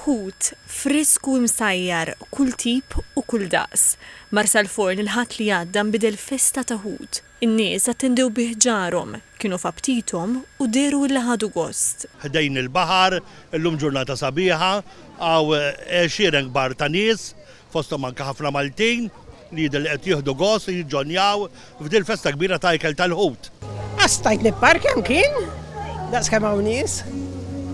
Ħut, frisk u imsajjar, kull tip u kull daqs. Marsalforn il-Ħadd li għadda nbidel festa ta' ħut. In-nies attendew bih ġarhom, kienu f'aptithom u dehru illi ħadu gost. Ħdejn il-baħar, illum ġurnata sabiħa, hawn għexieren kbar ta' nies fosthom anke ħafna Maltin li jidher li qed jieħdu gost li jiġġonjaw f'dil festa kbira ta' ikel tal-ħut. Għax stajt nipparkja mkien, daqskemm hawn nies,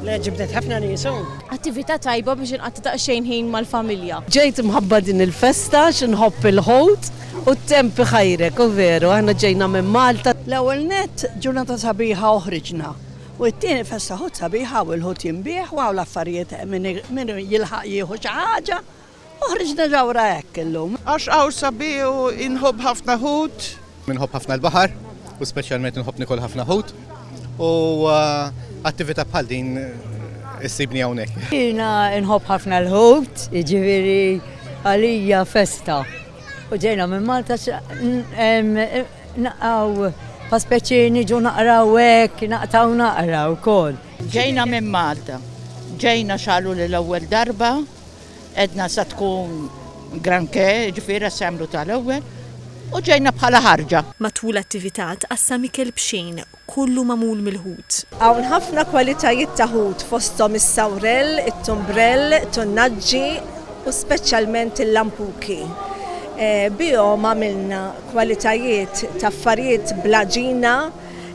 le ġibdet ħafna nies hu. Attività tajba biex inqatta' daqsxejn ħin mal-familja. Ġejt mħabba din il-festa għax inħobb il-ħut u t-temp iħajrek u veru aħna ġejna minn Malta. L-ewwel nett ġurnata sabiħa u ħriġna u t-tieni festa ħut sabiħa hawn il-ħut jinbiegħ u hawn l-affarijiet hemm min jilħaq jieħu xi ħaġa. U ħriġt niġawra hekk illum. Għax hawn sabiħ u inħobb ħafna ħut. Inħobb ħafna l-baħar u speċjalment inħobb nikol ħafna ħut u attività bħal din issibni hawnhekk. Jiena inħobb ħafna l-ħut, jiġifieri għalija festa. U ġejna minn Malta naqgħu pa speċi niġu naqraw hekk, naqtaw naqraw wkoll. Ġejna minn Malta. Ġejna xalu l-ewwel darba. Edna sa tkun granché, jiġifieri se jagħmlu tal-ewwel u ġejna bħala ħarġa. Matul l-attività tqassam ikel b'xejn, kollu magħmul mill-ħut. Hawn ħafna kwalitajiet ta' ħut fosthom is-sawrell, it-tumbrell, tunnaġġi u speċjalment il-lampuki. Bihom għamilna kwalitajiet ta' affarijiet bl-għaġina.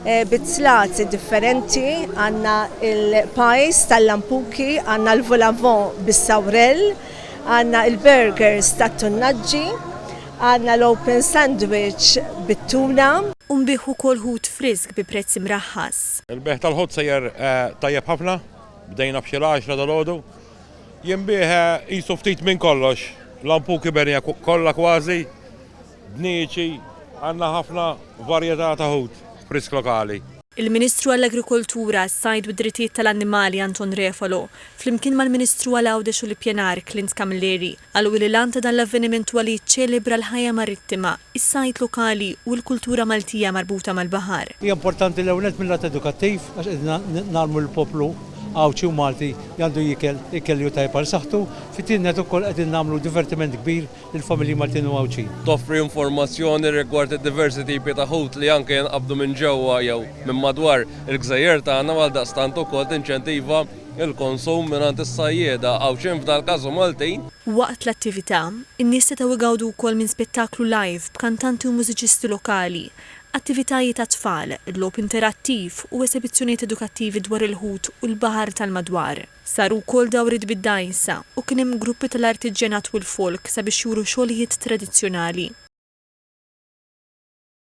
Eh, bizzlati differenti, għanna il-pajs tal-lampuki, għanna l-volavon bis-sawrel, għanna il-burgers tat-tunnaġġi, għanna l-open sandwich bit-tuna. Unbiħ u kol ħut frisk bi prezz mraħħas. Il-beħ tal-ħut sejjer eh, tajjeb ħafna, bdejna b'xi l-10 dal-ħodu. Jimbieħ eh, jisu ftit minn kollox, lampuki bernija kollha kważi, Bnieci, Għandna ħafna varjetà ta' ħut frisk lokali. Il-Ministru għall-Agrikoltura, s-Sajd u d-Drittijiet tal-Annimali Anton Refalo, flimkien mal-Ministru għal Għawdex u l-Ippjanar Clint Camilleri, qalu li l-għan ta' dan l-avveniment huwa li jiċċelebra l-ħajja marittima, is-sajd lokali u l-kultura Maltija marbuta mal-baħar. Hija importanti l-ewwel nett mil-lat edukattiv għax qegħdin ngħallmu lill-poplu Għawdxi u Malti li għandu jiekel ikel li hu tajjeb għal saħħtu, fit-tieni nett ukoll qegħdin nagħmlu divertiment kbir lill-familji Maltin u Għawdxin. Toffri informazzjoni rigward id-diversi tipi ta' ħut li anke jinqabdu minn ġewwa jew minn madwar il-gżejjer tagħna u għaldaqstant ukoll tinċentiva l-konsum mingħand is-sajjieda Għawdxin f'dal-każ u Maltin. Waqt l-attività, in-nies setgħu jgawdu wkoll minn spettaklu live b'kantanti u mużiċisti lokali, attivitajiet għat-tfal, logħob interattiv u esebizzjonijiet edukattivi dwar il-ħut u l-baħar tal-madwar. Saru wkoll dawriet bid-dgħajsa u kien hemm gruppi tal-artiġġjanat u l-folk sabiex juru xogħlijiet tradizzjonali.